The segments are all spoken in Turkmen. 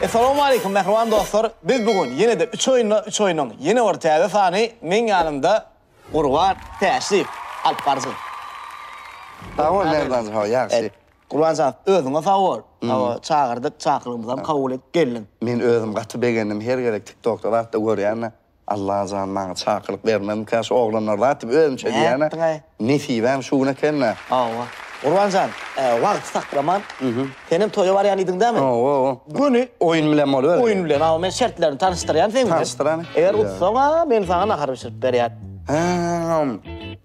Essalowmaleýkum mähriban dostlar! Biz bu gün ýene-de üç oýunda üç oýnuň ýene bir täze sany meň ýanymda Gurban Täşliýew alyp barjak. Sag bol Merdan ho, ýagşy. Gurbanjan, özüňe sag bol. Hawa, çagyrdyk, çakyrygymyzam kabul edip geldiň. Men özüm gaty begendim, her gezek TikTokda zatda görýän-de. Allajan maňa çakylyk bermezmikä şu oglanlar zat diýip özümçe diýýän-ä. Nätdiň-aý? Nesibäm şu gün eken-dä. Hawa. Gurbanjan, wagty saklaman, senem toýa barýan idiň dämi? Hawa. Göni. Oýun bilen boluberdi. Oýun bilen, hawa. Men şertlerini tanyşdyrýan seň bilen. Tanyşdyr hany. Eger utsaň-a, men saňa nahar bişirip berýän. Hä-äm.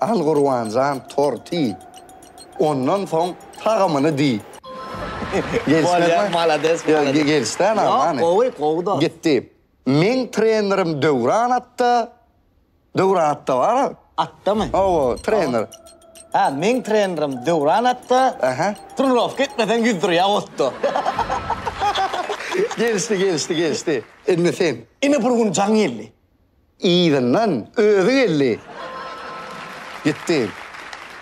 Al Gurbanjan torty. Ondan soň tagamyny diý. Bolýar, malades, malades. Gelişdä name hany? Ýok, gowy, gowy dos. Gitdi. Meň trenerim Döwran atda. Döwran atda bar-a. Atdamy? Hawa, trener. Hä, meň trenerim Döwran atda. Ähä. Trenirowka etmeseň ýüzdürýär otda. Gelişdi, gelişdi, gelişdi. Indi sen. Ine bir gün jaň geldi. Yzyndan özi geldi. Gitdi.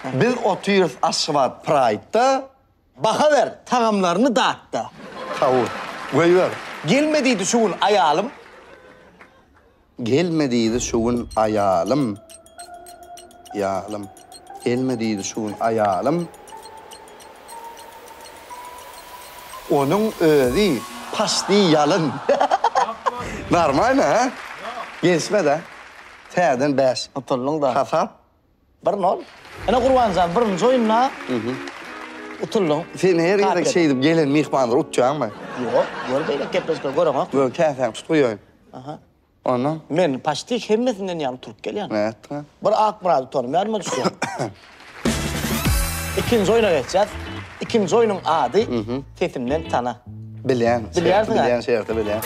Biz otyrys Aşgabat Pride-da. Baha ber, tagamlaryny dat-da. Hawy, goýber. Gelme diýdi şu gün aýalym. Gelme diýdi şu gün aýalym, ýalym. Gelme diýdi şu gün aýalym. Onuň özi paşdi ýalyn. Normalno hä? Gelişmedä. Täzeden bäş. Utuldyňda. Hasap. Bir nol. Ine Gurbanjan birinji oýunda utuldyň. Sen her gezek şeýdip gelen myhmanlary utjaňmy? Ýok. Gör beýle gepleşikleri göreňok. Göni täsäň tutguýaýyn. Aha. Ondan? Men paçti hemmesinden ýaňy turup gelýän. Nätdiňä? Bir Akmyrady tonym ýadyma düşýär. Ikinji oýna geçýäs. Ikinji oýnuň ady Sesimden tana. Bilýän. Bilýärsiň-ä? Bilýän, şerti bilýän.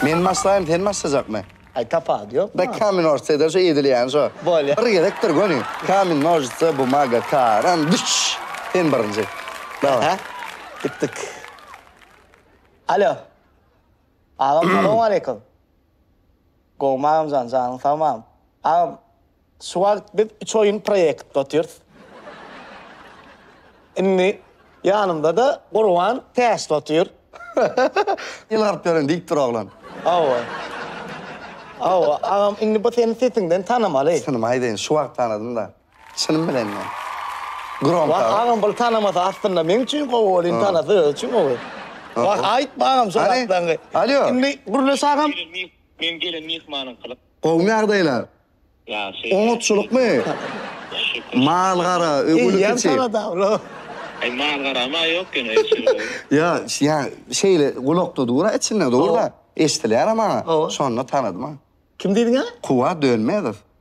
Men başlaýyn, sen başlajakmy? Aý, tapawudy ýokma. Dak kamen nožitsede şu edilýäni şo. Bolýa. Bir gezekdir göni. Kamen nožitsa bumaga karan. Düş! Sen birinji. Daway. Gitdik. Alo. Agam salowmaleýkum. Gowmy agamjan janyň sag mam. Agam şu wagt biz üç oýun proýektde otyrys. Indi ýanymdada Gurban täşde otyr. Il garyp ýören diýip dur oglan. Hawa. Hawa agam indi bu seni sesiňden tanamaly. Synymy aýdaýyn şu wagt tanadym da. Çynym bilen mi? Gromka. Wah agam bul tanamasa aslynda meň üçin gowy bol indi tanasa özi üçin gowy. Wah aýtma agam şol atlaňy. Alýo. Indi gürleş agam. Meň gelen myhmanyň kylyk. Gowmy ýagdaýlar? Ýagşy. Oňatçylykmy? Mal gara, öwgüli kiçi. Eýýäm tanada bro. Aý mal garama ýok ýöne eşegi gowy. Ýa, ýa şeýle gulakda dur-a içinde dur-da. Eşdilýär-ä maňa. Şonda tanadym-a. Kim diýdiň-ä? Kuwat Dönmezow.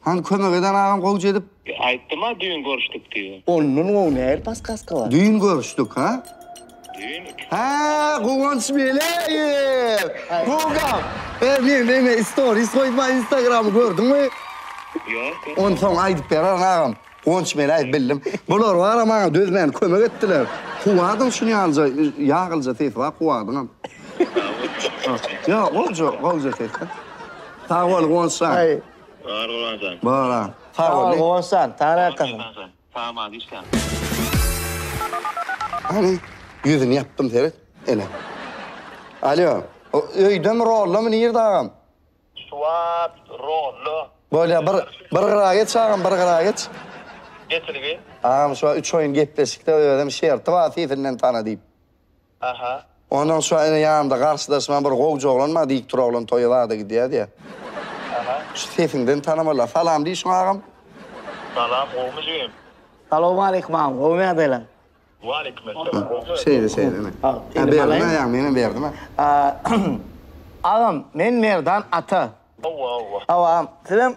Hany kömek eden agam gowja edip. Aýtdym-a düýn görüşdik diýip. Ondan gowy nähili paskaska bar. Düýn görüşdik ha? Düýn iki. Hä, Guwanç Meleýew! Bugam! Her gün meni istoris goýupma instagramy gördüňmi? Ýok. Onsoň aýdyp bererin agam. Guwanç Meleýew bildim. Bular bar-a maňa dözmän kömek etdiler. Kuwwadyň şuny ýalyja ýagylja sesi bar kuwwadyňam. Sag bol. Ýok gowja, gowja ses-de. Sag bol Guwanç jan. Sag bol Guwançjan. Bor a. Sag bol Guwançjan. Tana ýakasyň. Saman işläň. Hany ýüzüni ýapdym seret ene. Alýo. O öýdemi rollamy nirde agam. Swat rollo. Bolýa bir bir gyra geç agam bir gyra geç. Getirgi. Agam şuwagt üç oýun gepleşikde özem şerti bar sesinden tana diýip. Aha. Ondan soň ene ýanymda garşydaşymam bir gowja oglan bar, diýip dur oglan toýa zada gidýär diýýär. Aha. Şu sesiňden tanamalylar. Salam diýşiň agam. Salam, gowumy jigim? Salowmaleýkim agam, gowumy ýagdaýlaň? Waleýkimessalam, gowumy? Şeýle şeýle ine. Indi berdim aýagymy menem berdim a. Agam, men Merdan ata. Hawa, hawa. Hawa agam, sizem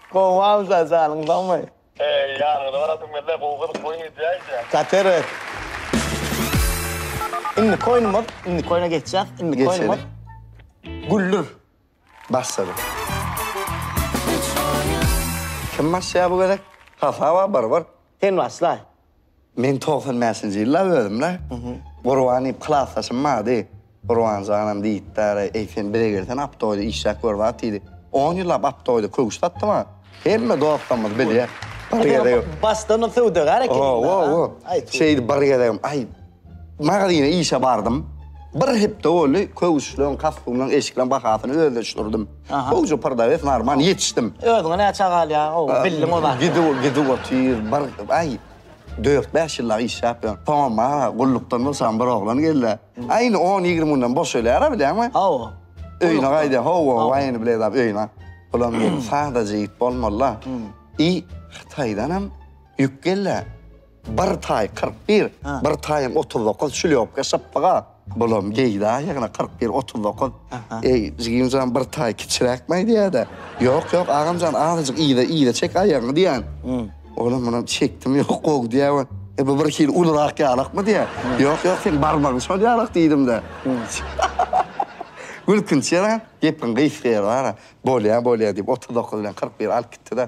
Gowy awza janyň sagmy. Eý ýanyňda barasym gelýä gowy gyzyk oýun edýä eýsem. Kateres. Indiki oýnumyz indiki oýna geçýäs indiki oýnumyz Güldür. Başladyk. Kim başlaýar bu gezek? Hasaba barbar. Sen başlaý. Men togsan bäşinji ýylda özüm-le, Gurban diýip klasdaşym bardy. Gurban janam diýipdir, eý, sen bize gelsene, aptoýda işläp gör wagt diýdi. On ýyllap aptoýda köwüş satdy maňa. Hemme dostlarymyz bilýär. Bir gezegem. Başdan-a söwdagär ekeniň-dä. Hawa, hawa. Şeýdip bir gezegem, aý, Magazyna işe bardym. Bir hepde boldy, köwüşleň, kostumlaň, eşikleň bahasyny özleşdirdim. Gowyja prdawes, normal ýetişdim. Özüňe näçe galýar, gowy bildiň o zat. Gidip, gidip otyr, bir, aý, dört-bäş ýyllap işläp ýör. Soňam maňa gullukdan boşan bir oglan geldi. Aý, indi on-ýigrimi günden boşalýar-a, bilýäňmi? Hawa. Öýüne gaýdýar, hawa, waý, indi bileýdap öýüne. Bulam diýdim, sadaja ýigit bolmaly-la. I Hytaýdanam ýük geldi. Bir taý kyrk bir, bir taýam otuz dokuz, çüliopka şypbyga. Bulam geýdä ýagny kyrk bir, otuz dokuz. Eý, jigim jan, bir taý kiçiräkmi aýdýa-da? Ýok, ýok, agam jan, azajyk yza, yza çek aýagyňy diýýän. Olam munam çekdim, ýok, gowy diýýär we E, bu birhili ulurak ýalakmy diýýär. Ýok, ýok, seniň barmagyň şol ýalak diýdim-de. Gülkünç ýalam, gepiň gysga ýeri bar-a. Bolýa, bolýa diýip, otuz dokuz bilen kyrk biri alyp gitdi-de.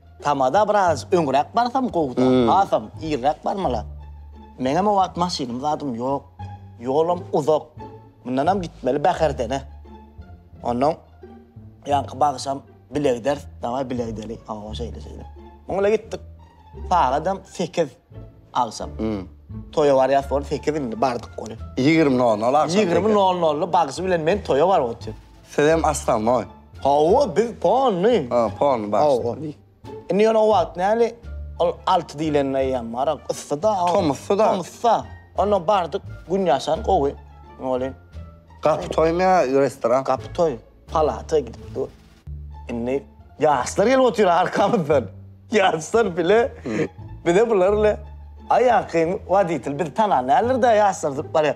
Tamada biraz öňräk barsam gowuda, hasam irräk barmaly. Meňem o wagt maşynym zadym ýok, ýolam uzak. Mundanam gitmeli Bäherdene. Onnoň ýaňky bagşam bilegiders, dawaý bile gideli, hawa, şeýle-şeýle. Muň bilen gitdik. Sagadam sekiz agşam. Toýa barýas boldy, sekiz indi bardyk ony. Ýigrimi nol-nol agşam. Ýigrimi nol-nolda bagşy bilen men toýa baryp otyrys. Sizem aslanboý. Hawa, biz pony. Ha, pony bagşy. Indi ýöne o wagt näli, ol alty diýlende eýýäm arak yssy-da. Tomusdy-da. Tomusda. Onda bardyk, gün ýaşan gowy. Welin. Gapy toýmy ýa restoran? Gapy toý. Palata gidip dur. Indi ýaşlar gelip otyr arkamyzdan. Ýaşlar bile, bize bular ile aýakyn woditel. Bizi tanan däldir-de ýaşlar zyp barýar.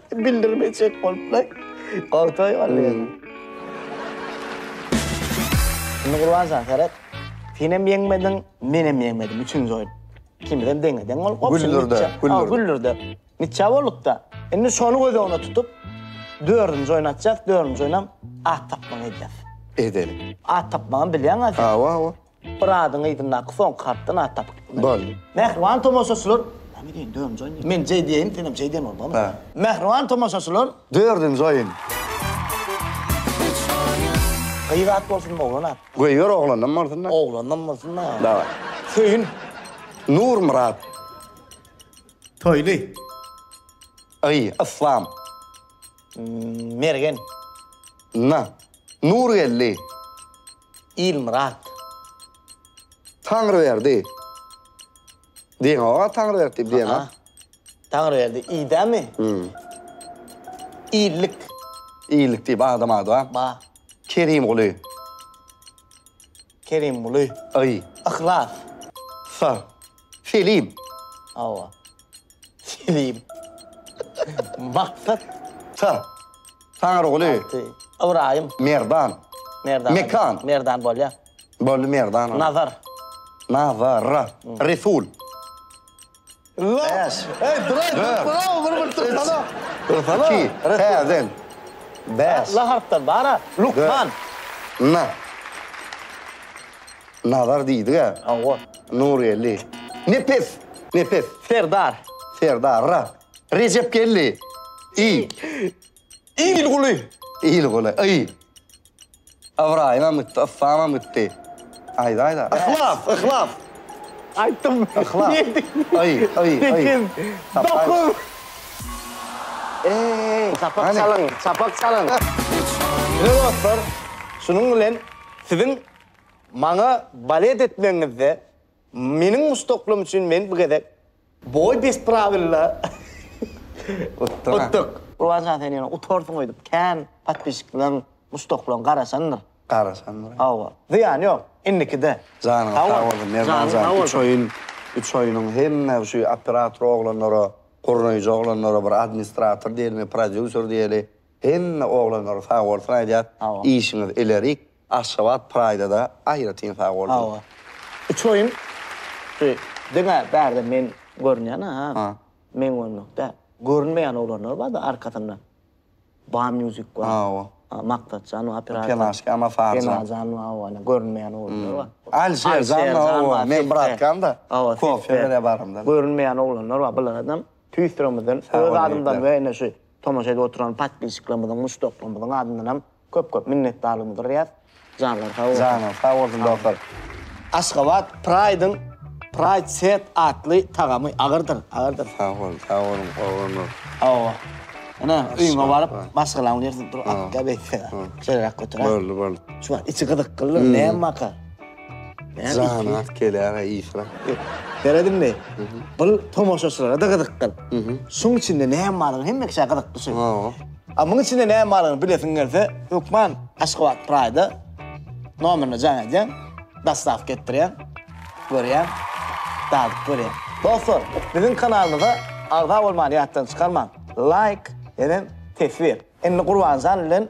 Bildirmejek bolupla. Gagtaý galýar. Indi Gurbanjan seret. Senem ýeňmediň, menem ýeňmedim. Üçünji oýun. Ikimiz hem deňe-deň bolup gopduk. Güllürde, güllürde. Güllürde. Niçe bolduk-da? Indi şony göz öňüne tutup, dördünji oýun atjak, dördünji oýunam at tapmagy edýäs. Edeli. At tapmagam bilýäň-a sen. Hawa, hawa. Pyradyň yzyndaky soňky hatdan at tapyp bilmedim. Boldy. Mähriban tomaşaçylar, Näme diýen, dördünji oýun diýen. Men J diýeýin, senem J diýen bol, bolmy? Hä. Mähriban tomaşaçylar. Dördünji oýun. Gyz at bolsunmy, oglan at? Goý ber, oglandan bolsun-da. Oglandan bolsun-da. Daway. Söýün. Nurmyrat. Toýly. Y, Yslam. Mergen. N, Nurgeldi. Ilmyrat. Taňryberdi. Diýeňoga Taňryberdi diýip diýen-a. Taňryberdi idämi? Illik. Illik diýip adam ady bar. Bar. Kerimguly. Kerimguly. Y. Yhlas. S. Selim. Hawa. Selim. Maksat. Tan. Taňryguly. Alty. Ybraýym. Merdan. Merdan. Mekan. Merdan bolýa. Boldy Merdan. Nazar. Nazar. Resul. Bäş. Eý, duraý, duraý, bir bir tursana. Tursana. Iki. Täzen. Bäş. La harpdan bar-a. Lukman. Na. Nazar diýdi-ä. Hawa. Nurgeldi. Nepes! Nepes! Serdar. Serdar. Ra. Rejepgeldi. I. Ilguly. Ilguly. Y. Ybraýymam gitdi, Yslamam gitdi. Aýda-aýda. Yhlas! Yhlas! Aýtdym. Yhlas. Ýedi. Y. Y. Y. Sekiz. Dokuz. Eý! Çapak çalyň! Çapak çalyň! Ine dostlar, şunuň bilen siziň Maňa balet etmegiňizde meniň muşdaklygym üçin men bu gezek boý bes prawilla utduk. Rowajan sen ýene utarsyň öýdüp kän podpisçikleň muşdaklaň garaşandyr. Garaşandyr. Hawa. Zyýany ýok. Indikide. Janyňyz sag bolsun Merdanjan üç oýun üç oýunyň hemme şu operator oglanlara gurnaýjy oglanlara bir administrator diýelimi prodýuser diýeli hemme oglanlara sag bolsun aýdýas işiňiz ilerik. Aşgabat Praýda-da aýratyn sag bolsun. Hawa. Üç oýun şu diňe bärde men görünýän-ä ha. Ha. Men görmek däl. Görünmeýän oglanlar bar-da arkasynda. Ba Music bar. Hawa. Maksatjan bar operator. Penaşka Mafarjan. Penaşjan bar hawa ine görünmeýän oglanlar bar. Alişerjan bar hawa meň bratkam-da. Hawa. Kofe berýär baramda. Görünmeýän oglanlar bar. Bularadam tüýs ýüregimizden öz adymdan we ine şu tomaşa edip oturan podpisçiklerimiziň, muşdaklarymyzyň adyndanam Köp köp minnetdarlygymy bildiriýäs. Janlar sag bolsun. Janlar sag bolsun dostlar. Aşgabat Pride-iň Pride Set atly tagamy agyrdyr, agyrdyr. Sag boluň, sag boluň oglanlar. Hawa. Ine, öýüňe baryp, maşgalaň bilersiň. Dur, atga beýtse. Şeýleräk göter-ä. Boldy, boldy. Şu içi gyzyklydyr, näme waka? Jana keläge işra. Seredimmi? Bul tomaşaçylara-da gyzykdyr. Şuň içinde näme baryny hemme kişä gyzyk düşer. Hawa. A muň içinde näme baryny bilesiň gelse, hökman Aşgabat Pride-a nomerine jaň edýäň, dostawka etdirýäň, görýäň, dadyp görýäň. Dostlar, biziň kanalymyza agza bolmany ýatdan çykarmaň. Laýk, enem teswir. Indi Gurbanjan bilen.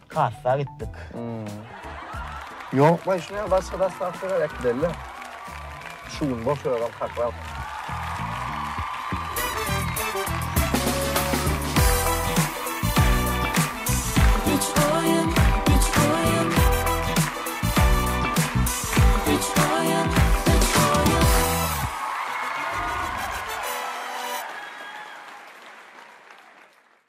Kassa gitdik. Ýok baý şuny başga daslap şeýle äkideli. Şu gün boş ýöräm kaklar.